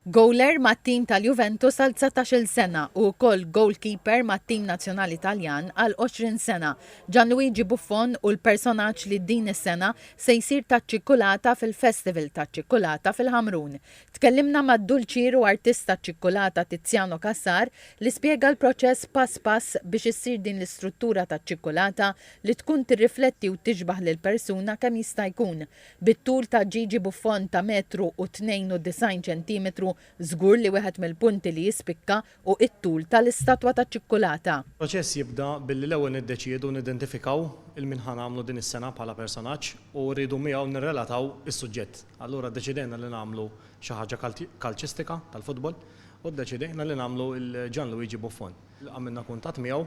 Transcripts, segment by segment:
Gowler mat-tim tal-Juventus għal dsatax-il sena u wkoll gowlkiper mat-tim nazzjonali Taljan għal għoxrin sena, Gianluigi Buffon hu l-personaġġ li din is-sena se jsir taċ-ċikkulata fil-Festival taċ-Ċikkulata fil-Ħamrun. Tkellimna mad-dulċier u artist taċ-ċikkulata Tiziano Cassar li spjega l-proċess pass pass biex issir din l-istruttura taċ-ċikkulata li tkun tirrifletti u tixbah lill-persuna kemm jista' jkun. Bit-tul ta' Gigi Buffon ta' metru u 92 ċentimetru, żgur li wieħed mill-punti li jispikka hu it-tul tal-istatwa taċ-ċikkulata. Il-proċess jibda billi l-ewwel niddeċiedu nidentifikaw il-min ħa nagħmlu din is-sena bħala personaġġ u rridu miegħu nirrelataw is-suġġett. Allura ddeċidejna li nagħmlu xi ħaġa kalċistika, tal-futbol, u ddeċidejna li nagħmlu lil Gianluigi Buffon. Għamilna kuntatt miegħu,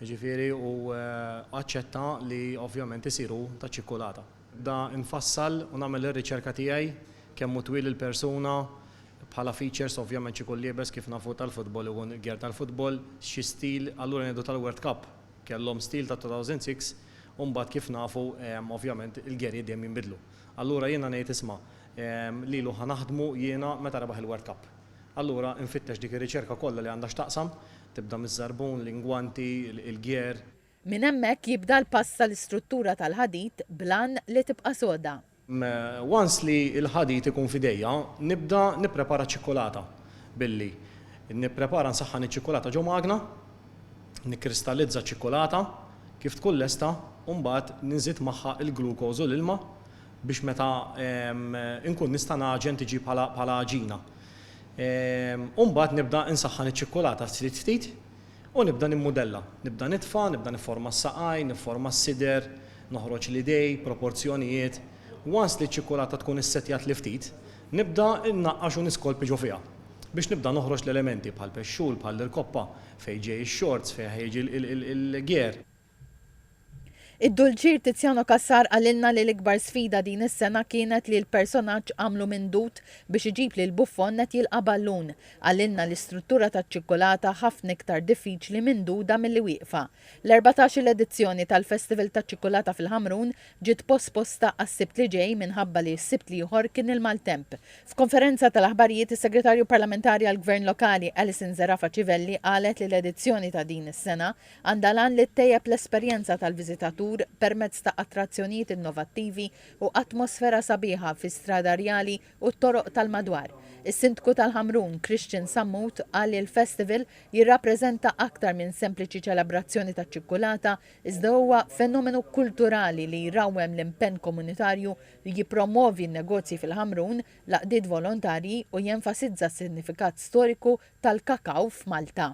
jiġifieri, u aċċetta li ovvjament isir hu taċ-ċikkulata. Nibda nfassal u nagħmel ir-riċerka tiegħi, kemm hu twil il-persuna, bħala features ovvjament x'ikun liebes kif nafu tal-futbol ikun gear tal-futbol, xi stil, allura ngħidu tal-World Cup kellhom stil tat-2006 u mbagħad kif nafu ovvjament il-gearijiet dejjem jinbidlu. Allura jiena ngħid isma' lilu ħa naħdmu jiena meta rebaħ il-World Cup. Allura infittex dik ir-riċerka kollha li għandha x'taqsam, tibda miż-żarbun, l-ingwanti, il-gear, Minn hemmhekk jibda l-pass tal-istruttura tal-ħadid bl-għan li tibqa' soda. Once li l-ħadid ikun f'idejja, nibda nipprepara ċ-ċikkulata billi, nipprepara nsaħħan iċ-ċikkulata ġo magna, nikkristallizza ċ-ċikkulata, kif tkun lesta, u mbagħad nżid magħha l-glucose u l-ilma biex meta nkun nista' ngħaġen tiġi bħala għaġina. U mbagħad nibda nsaħħan iċ-ċikkulata ftit ftit, U nibda nimmudella. Nibda nitfa', nibda nifforma s-saqajn, nifforma s-sider, noħroġ l-idej, proporzjonijiet. Once li ċ-ċikkulata tkun issettjat li ftit, nibda nnaqqax u niskolpi ġo fiha. Biex nibda noħroġ l-elementi bħall-pexxul, bħall-irkoppa, fejn ġej ix-xorz, fejn ħa jiġi l-gear. Id-Dulċir Tiziano Cassar qalilna li l-ikbar sfida din is-sena kienet li l-personaġġ għamlu minn dud biex iġib lil Buffon qed jilqa' ballun. Qalilna li struttura taċ-ċikkulata ħafna iktar diffiċli minn duda milli wieqfa. L-erbatax-il edizzjoni tal-Festival taċ-Ċikkulata fil-Ħamrun ġiet posposta għas-Sibt li ġej minħabba li s-Sibt l-ieħor kien il-maltemp. F'konferenza tal-aħbarijiet is-Segretarju Parlamentari għall-Gvern Lokali Alison Zerafa Civelli qalet li l-edizzjoni ta' din is-sena Għandha l-għan li ttejjeb l-esperjenza tal-viżitatur permezz ta' attrazzjonijiet innovattivi u atmosfera sabiħa fis-Strada Rjali u t-toroq tal-madwar. Is-Sindku tal-Ħamrun, Christian Sammut, qal li l-festival jirrappreżenta aktar minn sempliċi ċelebrazzjoni taċ-ċikkulata iżda huwa fenomenu kulturali li jrawwem l-impenn komunitarju li jippromwovi n-negozji fil-Ħamrun, l-għaqdiet volontarji u jenfasizza s-sinifikat storiku tal-kakaw f'Malta.